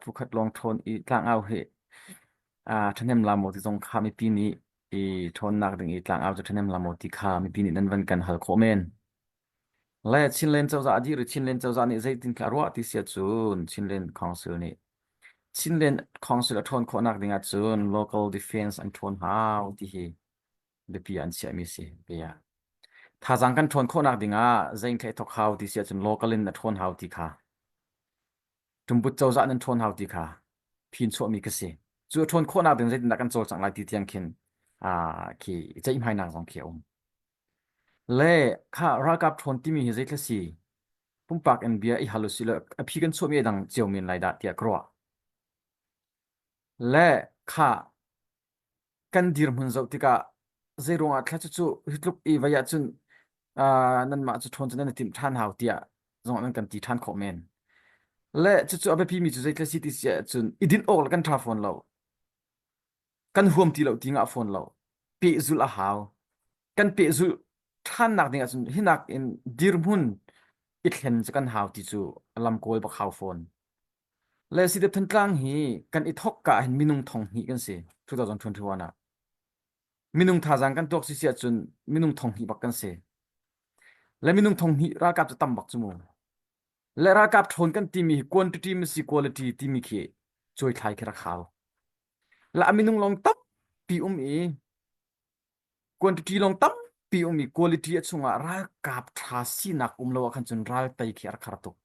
phukhat lawng ṭhawn i tlangau hi ṭhahnem la maw ti zong kha mipi nih i ṭhawnnak ding i tlangau cu ṭhahnem la maw ti kha mipi nih nan van kan hal khawh men. Le Chinland cozah a dir i Chinland cozah nih zeitin kha a ruah ti sia cun Chinland Council nih Chinland Council a ṭhawn khawhnak dingah cun local defense an ṭhawn hau ti hi biapi an chiahmi si. Bia. Thazaang kan ṭhawn khawhnak dingah zein ṭheh thawk hau ti sia cun local in a ṭhawn hau ti kha Ṭumbut cozah nan ṭhawn hau ti kha phinchuahmi ka si. Cu a ṭhawn khawhnak ding zeitindah kan cawlcangh lai ti tiang khin aa khi i ceihmainak zong khi a um. Le kha ralkap ṭhawn timi hi zeitluk si pumpak in bia i hal u sih law a phi kan chuahmi a dang cio men lai dah tiah ka ruah. Le kha kan dirhmun zoh tikah zeiruangah thla cucu hi tluk i vai ahcun uh, nanmah cu ṭhawn cu nan i timh ṭhan hau tiah zongah nan kan ti ṭhan khawh men. Le cucu a biapimi cu zeitlai si ti si ahcun i dinh awk le kan ṭha fawn lo. Kan huam ti lo ti ngah fawn lo. Pehzulh a hau. Kan pehzulh ṭhannak ding ahcun hi nakin dirhmun i thlen cu kan hau ti cu a lamkawl bak hau fawn. Le Sidep Thantlang hi kan i thawk ka hin minung thong hnih kan si 2021 ah minung thazaang kan tuak si si ahcun minung thong hnih bak kan si le minung thong hnih ralkap cu tam bak cu mu le ralkap ṭhawn kan timi hi quantity masi quality timi khi coi thlai khi rak hau la a minung long tampi um i quantity long tampi um i quality a chungah ralkap ṭha sinak um lo ah khan cun ral tei khi a rak har tuk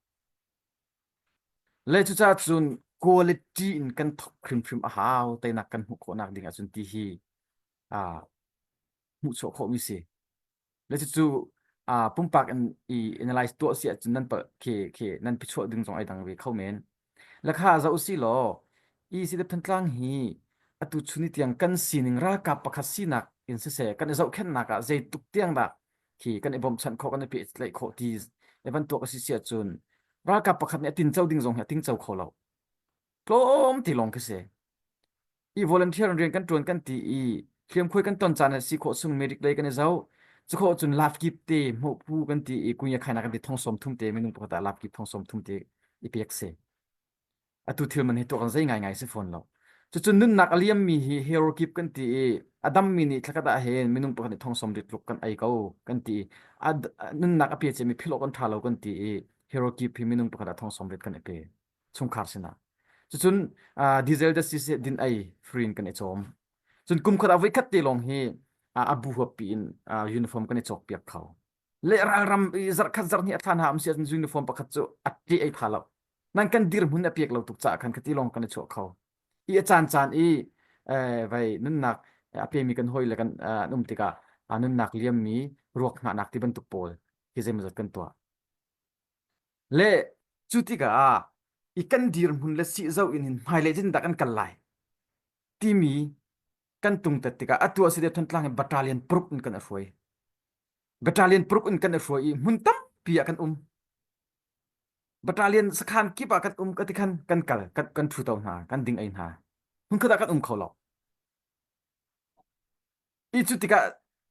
Le cucaah cun quality in kan thawk hrimhrim a hau teinak kan hmuh khawh nakding ahcun ti hi aa hmuhchuah khawhmi si. Le cucu aa pumpak in i analyze tuah si ahcun nan palh khi khi nan phichuah ding zong ai dang ve kho men. Le kha zoh usilaw i Sidaphne Tlang hi atu chuni tiang kan sining ralkap pakhat sinak in siseh kan i zohkhenhnak ah zeitluk tiang dah khi kan i bawmhchanh khawh kan i pehtlaih khawh ti e bantuk a si si ahcun ralkap pakhat nih a tinco ding zong hi a tingco kho lo tlawm ti lawng khi si i volunteer rian kan tuan kan ti i hliamkhuai kan ton caan a si khawh sung merik lei kan i zo cukhawh cun laf kip te hmuh phu kan ti i kunya khaina kan ti thong som thum te minung pakhat ah laf kip thong som thum te i pek si Atu thil man hi tuah kan zei ngaingai si fawn lo. Cucu nunnak a liammi hi hero kip kan ti i a dammi nih thlakhat ah hin minung pakhat nih thongsawm dik tluk kan ei ko kan ti i a d- a- nunnak a pe ciami philh awk an ṭha lo kan ti i hero kip hi minung pakhat ah thongsawm rit kan i pe chungkhar sinah. Cucun ah, diesel justice hi din ei free in kan i cawm. Cun kum khat ah voi khat te lawng hi ah, a bu huappi in ah, uniform kan i cawkpiak kho. le ralram i zarkhat zarhnih a thlan ha am si ahcun uniform pakhat cu a ṭe ei tha lo nan kan dirhmun a pek lo tuk caah khan khati lawng kan i chuah kho i a caan caan i eh, vai nunnak a pemi kan hawi le kan eh, an um tikah ah, nunnak liammi ruak hngahnak ti bantuk pawl hi zeimawzat kan tuah le cu tikah i kan dirhmun le si zo in hin hmailei tin dak an kal lai timi kan tung tat tikah atu a si te thon tlang i battalion paruk in kan a hruai Battalion paruk in kan i hruai i hmun tampi ah kan um. Battalion sakhan kip ah kan um ka ti khan kan kal kan kan thu to hna kan ding ei hna hmun khat ah kan um kho lo i cu tikah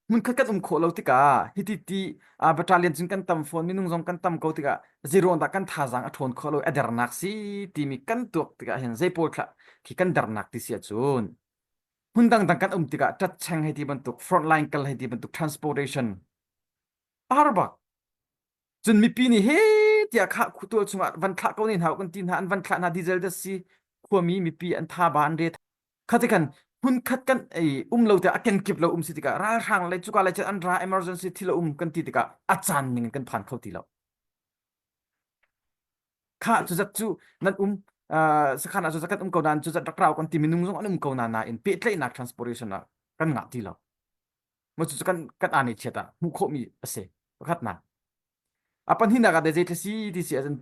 hmun khat kan um khawh lo tikah hiti ti a battalion cun kan tam fawn minung zong kan tam ko tikah zero dah kan thazang a ṭhawn kho lo adernak si timi kan tuak tikah hin zei pawl thlah khi kan dernak ti sia cun Hmun dangdang kan um tikah ṭatcheng hei ti bantuk, front line kal hei ti bantuk transportation a har bak. Cun mipi nih he tiah khah khutual chungah van thlah ko ne hna kan ti hna an van thlah hna diesel da si khuami mipi an tha ba an re khatikan hmun khat kan ei um lo te a kenkip lo um si tikah ralhrang le cuka le chan an ra emergency thilo um kan ti tikah a caan ning kan phan kho ti lo Khah cuzat cu nan um uh, sakhan ah cuzat kan um ko nain cuzat rak rau kan ti minung zong an um ko na nain pehtlaihnak transportation ah kan ngah ti lo ma cu kan kan ani chiata hmuh khawh mi ase pakhat na apan hina ga de je thasi ti si azan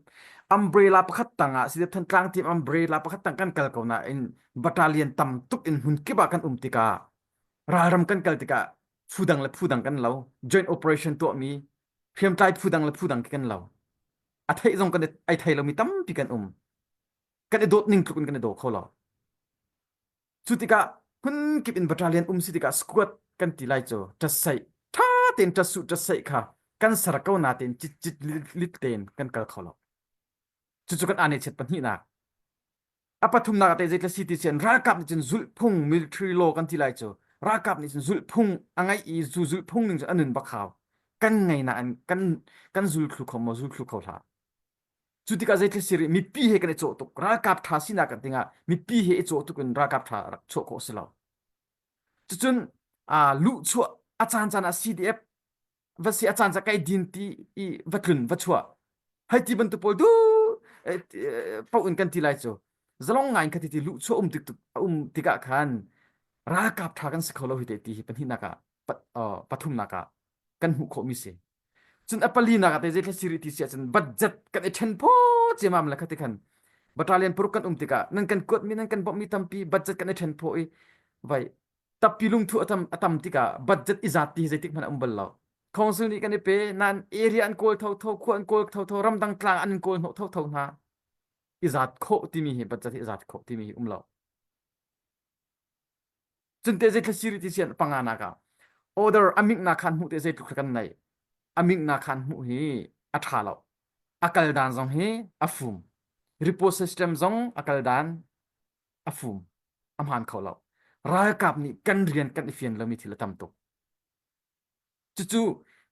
umbrella pakhat tanga si de than tlang team umbrella pakhat tang kan kal ko na in battalion tam tuk in hun kiba kan um tika ralram kan kal tika phudang le phudang kan lo joint operation to mi hriamtlai phudang le phudang kan lo A theih zong kan i thei lomi tampi kan um. Kan i dawt ning tluk in kan i daw kho lo. Cu tikah phun in battalion um si tikah squad kan ti lai cu ṭasai ṭha tein ṭasu ṭasai kha kan ser ko na tein cit cit lit tein kan kal kho lo. Cucu kan ane chet pahnihnak. a pathumnak ah zeitlai si ti sian ralkap nih cun zulhphung military law kan ti lai cu ralkap nih cun zulhphung a ngeih i zu zulhphung ning cun anun bakhau kan ngaina an kan kan zulthlu kho maw zulthlu kho hla cu tikah zeitlai siri mipi he kan i cawh tuk ralkap tha sinak kan tingah mipi he i cawh tuk in ralkap tha rak chuah khawh si lo cucun a luh chuah a caan caan a CDF va si a caan cu ka i din ti i va tlun va chuah hei ti bantuk pawl du eh, ti- eh, pauh in kan ti lai cu zalong ngai in kha ti ti luh chuah um tik a um tikah khan ralkap ṭha kan si kho lo hi te ti hi pahnihnak ah pat- uh, pathumnak ah kan hmuh khawhmi si cun a palinak ah te zeitlai siri ti si ahcun budget kan i ṭhen phaw ciamam le khati khan battalion paruk kan um tikah nan kan kuatmi nan kan bawmhmi tampi budget kan i ṭhen phaw i vai tappi lungthu a tam a tam tikah budget i zat ti zeitik hmanh a um bal lo council nih kan i pe nain area an kawl thotho khua an kawl thotho ramdang tlang an kawl hnawh thotho hna i zat khawh timi hi budget hi i zat khawh timi hi um lo cunte zei thlasiri ti sian panganak ah order amik na khan hmuh te zei tluk kan nei amik na khan hmuh hi a tha lo a kal dan zong hi a fum repost system zong a kal dan a fum a hmaan kho lo ralkap nih kan rian kan i fian lomi thil a tam tuk cucu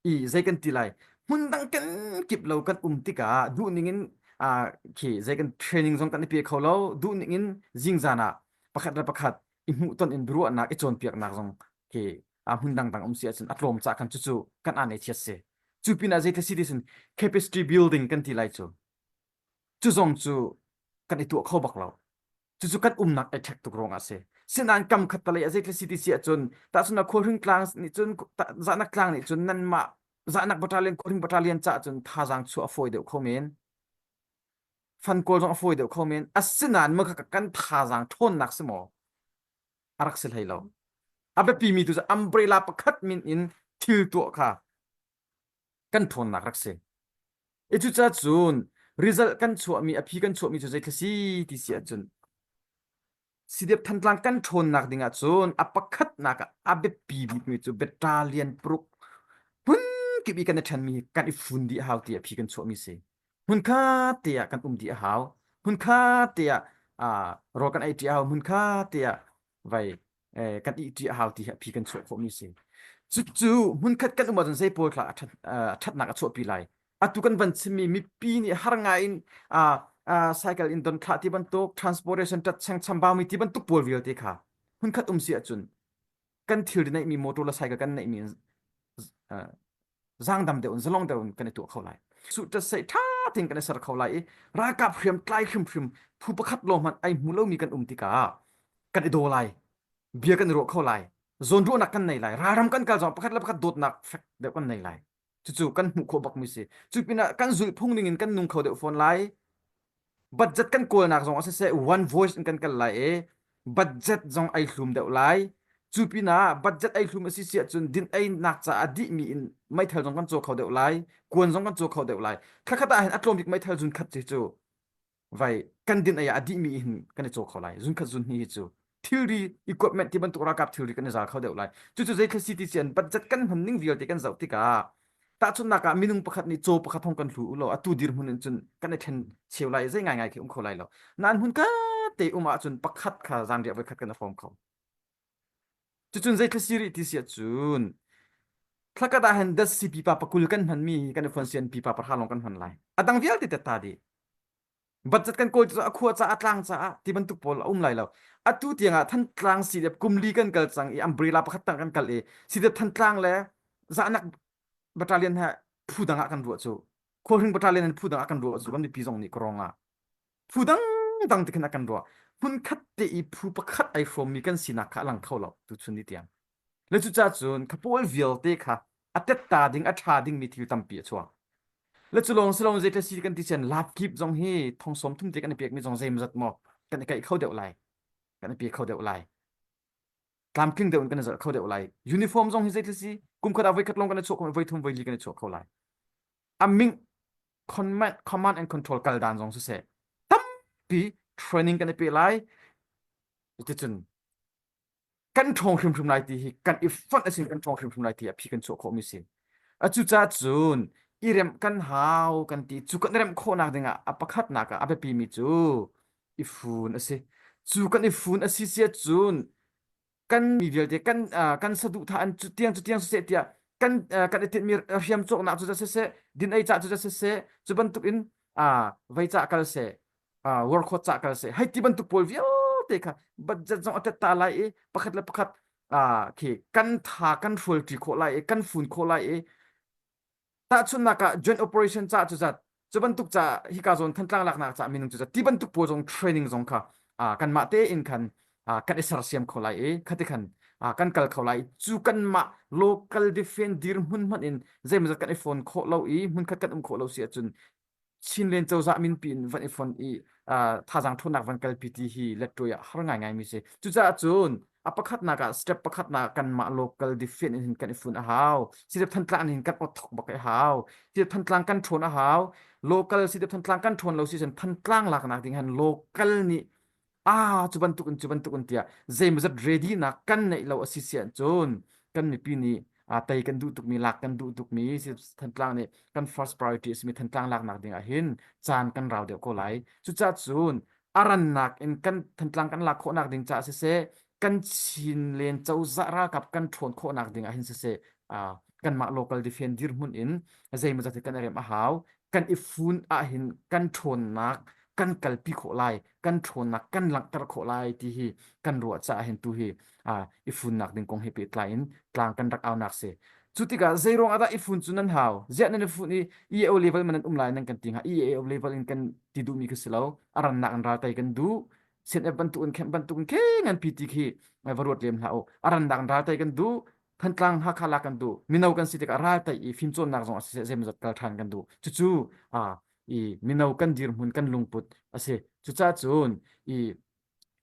i zei kan ti lai hmun dang kan kip lo kan um tikah duh ningin ah khi zei kan training zong kan i pe kho lo duh ningin zingzan ah pakhat le pakhat i hmuhton in ruahnak i cawnpiaknak zong khi a hmun dang dang um si ahcun a tlawm ca khan cucu kan aan i thiat si cu pinah zei thasi ti sun capacity building kan ti lai cu Cu zong cu kan i tuah kho bak lo. Cucu kan umnak i ṭhek tuk ruangah a si. Sinain kamkhattalei ah zeitlai siti si ahcun tahchunhnak Khualhring tlang nih cun Zahnak tlang nih cun nanmah Zahnak battalion Khualhring battalion caah cun thazaang chuah a fawi deuh kho men. Fan kawl zong a fawi deuh kho men. Asinain maka kan thazaang ṭhawnnak si maw a rak si hlei lo. A biapimi tu cu umbrella pakhat min in thil tuah kha kan ṭhawnnak rak si. I cucaah cun result kan chuahmi, a phi kan chuahmi cu zeitlai si ti si ahcun Sidiap Thantlang kan ṭhawnnak dingah cun a pakhatnak ah a biapi bikmi cu Battalion paruk hmunkip i kan i ṭhenmi hi kan i fun dih a hau tiah phi kan chuahmi si. Hmun kha te ah kan um dih a hau. Hmun kha te ah aa, rawl kan ei ṭi a hau. Hmun kha te ah vai eh, kan ih ṭi a hau ti hi a phi kan chuah khawhmi a si. Cucu hmunkhat kan um ahcun zeipawl thlah a ṭhat, uh, ṭhatnak a chuahpi lai. Atu kan van chimmi mipi nih har ngaiin uh, uh, cycle in don thlah ti bantuk, transportation tat cheng chambaumi ti bantuk pawl vialte kha hmunkhat um si ahcun kan thil neihmi motor le cycle kan neihmi uh, zangdam deuh in zalong deuh in kan i tuah kho lai su tat sei tha thing kan i ser kho lai i ralkap hriam tlai hrim hrim phu pakhat lo hmanh ai hmu lomi kan um tikah kan i do lai bia kan i ruah kho lai zawn ruahnak kan nei lai ralram kan kal zong pakhat le pakhat dawtnak fek deuh kan nei lai cucu kan hmuh khawh bak mi si cu pinah kan zulh phung ning in kan nung kho deuh fawn lai budget kan kawlnak zong ah siseh one voice in kan kal lai i budget zong ai hlum deuh lai cu pinah budget ai hlum a si si ahcun din einak caah dihmi in meithal zong kan caw kho deuh lai kuan zong kan caw kho deuh lai khat ah hin a tlawmbik meithal zun khat hi cu vai kan din ai a dihmi hin kan i caw kho lai zun khat zun hi hi cu thilri equipment ti bantuk ralkap thilri kan i zal kho deuh lai cucu zei thil city cian budget kan hman ning vialte kan zoh tikah tahchunnak ah minung pakhat nih caw pakhat hong kan hlu u law atu dir hmun in cun kan i thlen cheu lai zei ngaingai khi um kho lai lo nan hmun ka te um ahcun pakhat kha zan riah voikhat kan i fawm kho cucun zei thil siri ti sia cun thlakat ah hen das si pipa pakul kan hman mi kan i phonsian pipa parha long kan hman lai adang vialte tetta di Budget kan kawl caah a khua caah a tlang caah ti bantuk pawl a um lai lo. Atu tiangah Thantlang sidep kumli kan kal cang i umbrella pakhat tang kan kal i sidep Thantlang le Zahnak battalion he phu dang ah kan ruah cu. Khualhring battalion in phu dang ah kan ruah cu kan mipi zong nih Karong ah. Phu dang dang te khin a kan ruah. Hmunkhat te i phu pakhat ai hrawmmi kan sinak kha a lang kho lo tuchun ni tiang. Le cucacun ka pawl vialte kha a tetta ding a ṭha dingmi thil tampi a chuak. Le cu lawng si lo zeitlai si kan ti cun lab kip zong hi thongsawm thumte kan i pekmi zong zeimazat maw kan i kaih kho deuh lai. Kan i pe kho deuh lai. Tlamtling deuh in kan i zalh kho deuh lai. Uniform zong hi zeitlai si kumkhat ah voikhat lawng kan i chuah khawh, voi thum voi li kan i chuah kho lai. A ming command and control kal dan zong siseh tampi training kan i pe lai. Cuticun kan ṭhawng hrimhrim lai ti hi kan i fonh a si kan ṭhawng hrimhrim lai ti a phi kan chuah khawhmi si a cucaah cun i remh kan hau kan ti cu kan remh khawhnak dingah a pakhatnak ah a biapimi cu i fun a si cu kan i fun a si sia cun kan mi vialte kan uh, kan saduhthah an cu tiang cu tiang siseh tiah kan uh, kan i tinhmi hriam cawknak cu za siseh din ei cah cu za siseh cu bantukin uh, vei cah kal seh uh, work hot ca kan se hei ti bantuk pawl vialte kha budget zong atet ta lai i pakhat le pakhat uh, khi kan tha kan hrualti khawh lai i kan fun khawh lai i tahchunnak ah joint operation ca cu zat cu bantuk ca hika zon thantlang laknak ca minung cu zat ti bantuk pawl zong training zong kha uh, kan mah te in khan uh, kan i sersiam kho lai i khati khan uh, kan kal kho lai cu kan mah local defend dir hmun hman in zeimazat kan i phone khawh lo i hmun khat kan um khawh lo si ahcun Chinlen cozah minpi in van i fon i uh, thazang ṭhawnnak van kalpi ti hi lettuai ah har ngaingaimi si. Cucaah cun a pakhatnak ah step pakhatnak kanmah local defend in hin kan i fun a hau. Sidep Thantlang in hin kan othok bak i hau. Sidep Thantlang kan ṭhawn a hau. Local sidep Thantlang kan ṭhawn lo si sen Thantlang laknak ding han local nih ah cu bantuk in cu bantuk in tiah zeimawzat readynak kan neih lo a si si cun kan mipi nih aa tei kan duh tukmi lak kan duh tukmi thantlang nih kan first priority a simi thantlang laknak ding ah hin caan kan rau deuh ko lai cucah cun a rannak in kan thantlang kan lak khawhnak ding caah siseh kan chin len cozah ralkap kan ṭhawn khawhnak ding ah hin siseh ah kanmah local defend dirhmun in zeimawzat hi kan i rem a hau kan i fun ahhin kan ṭhawnnak kan kalpi khawh lai, kan ṭhawnnak kan langhter khawh lai ti hi kan ruah caah hin tu hi uh, i funnak ding kong he pehtlai in tlang kan rak aunak si. Cu tikah zeiruang ahdah i fun cu nan hau? Ziah nan i fun i EAO level man nan um lai nan kan ti hnga? EAO level in kan ti duhmi khi si lo. A rannak in raltai kan duh. CNF bantukin khen bantukin khe ngan pi ti khi va ruat lem hlah u. A rannak in raltai kan duh. Thantlang Hakha la kan duh mino kan si tikah ral tei i fimcawnnak zong a si zeimawzat kal ṭhan kan duh cucu ah i mino kan dirhmun kan lungput a si cucaah cun i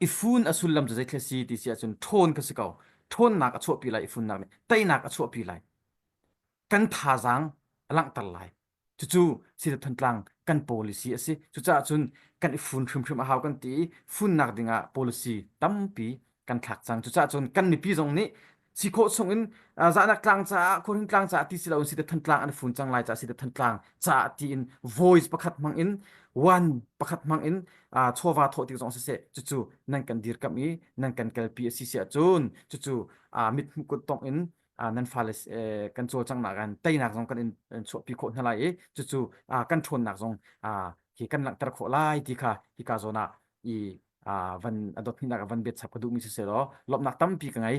i fun a sullam cu zeitlai si ti si ahcun ṭhawn ka si ko ṭhawnnak a chuahpi lai i funnak nih teinak a chuahpi lai kan thazaang a langhter lai Cucu sida Thantlang kan policy a si. Cucaah cun kan i fun hrimhrim a hau kan ti i funnak dingah policy tampi kan thlak cang. Cucaah cun kan mipi zong nih si khawh chungin uh, zahnak tlang caah, khuahring tlang caah ti si loin sida Thantlang an i fun cang lai caah sida Thantlang caah tiin voice pakhat hmang in one pakhat hmang in uh, chawva thawh tik zong si seh cucu nan kan dirkam i nan kan kalpi a si si ahcun cucu uh, mit hmuh kuttongh in ah nan fale eh, kan caw cang nak an teinak zong kan in in chuahpi khawh hna lai i cucu ah kan ṭhawnnak zong ah hi kan langhter khawh lai ti kha hika zawn ah i ah van adot hninak ah van bet chap ka duhmi si selaw lawmhnak tampi ka ngei